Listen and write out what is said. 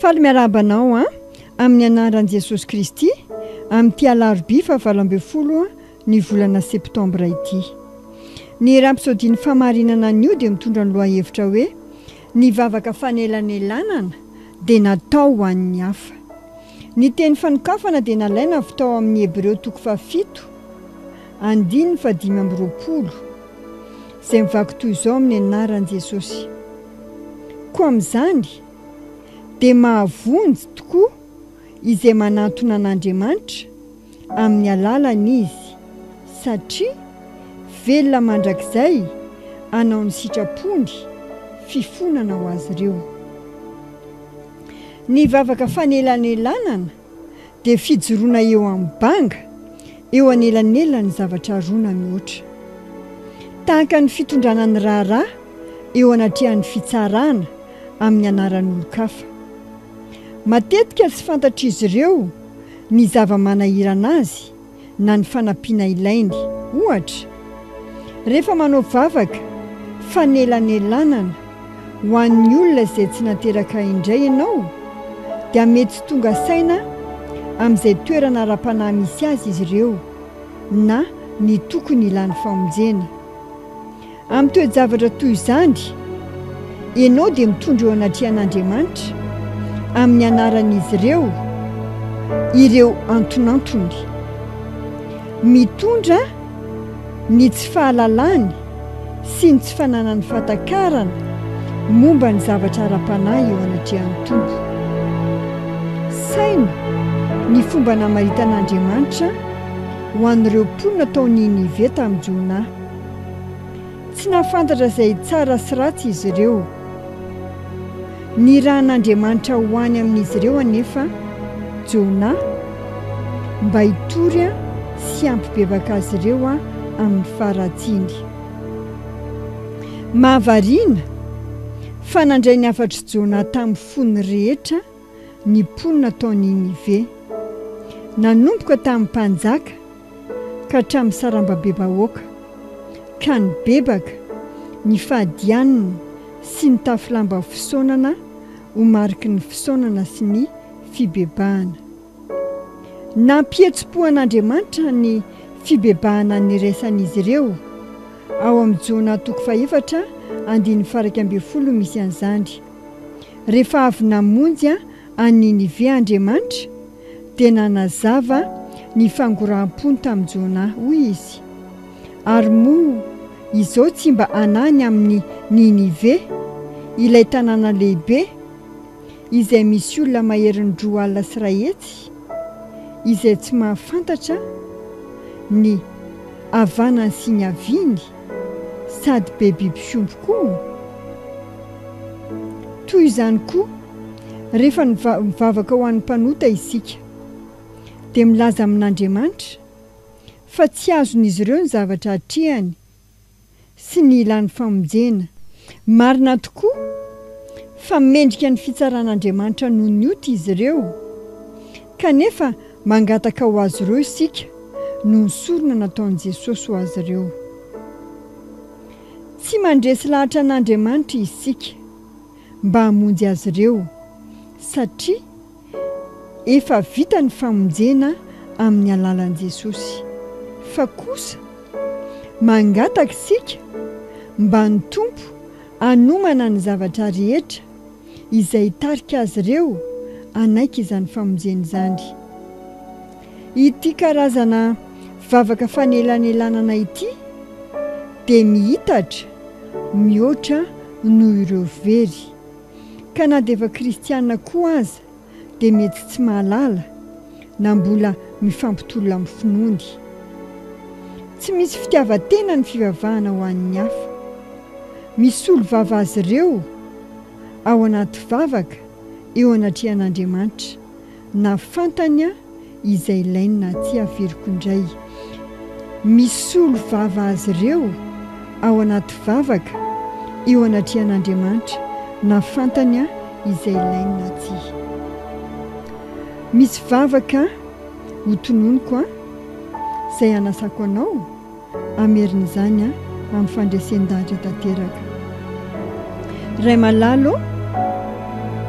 Faly miarahaba anao an! Amin'ny anaran'i Jesosy Kristy, amin'ity alarobia fahavalo ambin'ny folo ny volana septambra ity. Ny rampisodian'ny famarinana anio dia mitondra ny lohahevitra hoe, Ny vavaka fanelanelanana dia natao ho an'ny hafa. Ny teny fanokafana dia nalaina avy tao amin'ny Hebreo toko fahafito, andininy fahadimy amby roapolo, izay mivaky toy izao amin'ny anaran'i Jesosy. Koa amin'izany, dia mahavonjy tokoa izay manantona an'Andriamanitra amin'ny alalany izy, satria velona mandrakizay hanao ny sitrapony, fifonana ho azy ireo. Ny vavaka fanelanelanana dia fijoroana eo amin'ny banga eo anelanelan'ny zavatra roa na mihoatra. Tahaka ny fitondrana ny raharaha eo anatrehan'ny fitsarana amin'ny anaran'olon-kafa. Matetika tsy fantatr'izy ireo ny zava-manahirana azy, na ny fanampiana ilainy. Ohatra, rehefa manao vavaka fanelanelanana ho an'ny olona izay tsy nateraka indray ianao, dia mety tsy tonga saina amin'izay toerana ara-panahy misy azy izy ireo na ny tokony hilany famonjena. Amin'ny toe-javatra toy izany, ianao dia mitondra eo anatrehan'Andriamanitra, amin'ny anaran'izy ireo, ireo antonantony. Mitondra ny tsy fahalalany sy ny tsy fananany fahatakarana momba ny zavatra ara-panahy eo anatrehan'ny Tompo. Saino ny fomba namaritan'Andriamanitra ho an'ireo mponina tao Ninive tamin'i Jona. Tsy nahafantatra izay tsara sy ratsy izy ireo. Nirahan'Andriamanitra ho any amin'izy ireo anefa Jona mba hitory sy hampibebaka azy ireo amin'ny faharatsiany. Mahavariana fa nandray ny hafatr'i Jona tamin'ny fony rehetra ny mponina tao Ninive. Nanomboka tamin'ny mpanjaka ka hatramin'ny sarambabem-bahoaka, ka nibebaka ny fahadianana sy ny tafy lamba fisaonana ho mariky ny fisaonana sy ny fibebahana. Nampihetsi-po an'Andriamanitra ny fibebahana niraisan'izy ireo, ao amin'ny Jona toko fahefatra andininy faraika ambin'ny folo no misy an'izany. Rehefa avy namonjy an'i Ninive Andriamanitra, dia nanazava ny fangoraham-pony tamin'i Jona. Hoy izy, Ary moa izao tsy mba hanahy ny amin'i Ninive, ilay tanàna lehibe, izay misy olona maherin'ny roa alina sy iray hetsy, izay tsy mahafantatra ny havanany sy ny haviany? sady be biby fiompy koa. Toy izany koa, rehefa mivavaka ho an'ny mpanota isika, dia milaza amin'Andriamanitra fa tsy azon'izy ireo ny zavatra atrehany sy ny ilany famonjena. Marina tokoa fa mendrika ny fitsaran'Andriamanitra noho ny ota izy ireo. Kanefa, mangataka ho azy ireo isika noho ny sorona nataon'i Jesosy ho azy ireo. Tsy mandresy lahatra an'Andriamanitra isika mba hamonjy azy ireo, satria efa vita ny famonjena amin'ny alalan'i Jesosy. Fa kosa, mangataka isika mba ny Tompo hanomana ny zavatra rehetra izay hitarika azy ireo hanaiky izany famonjena izany. Ity karazana vavaka fanelanelanana ity dia miitatra mihoatra noho ireo very, ka na dia efa kristiana koa aza, dia mety tsy mahalala na mbola mifampitolona amin'ny finoany. Tsy misy fitiavan-tena ny fivavahana ho an'ny hafa. Misolo vava azy ireo ao anaty vavaka eo anatrehan'Andriamanitra, na fantany izay ilainy na tsia averiko indray misolo vava azy ireo ao anaty vavaka eo anatrehan'Andriamanitra na fantany aho izay ilainy na tsia misy vavaka ho tononiko an izay hanasako anao hamerin'izany an amin'ny fandresen-dahatra tanteraka Ray malalo ô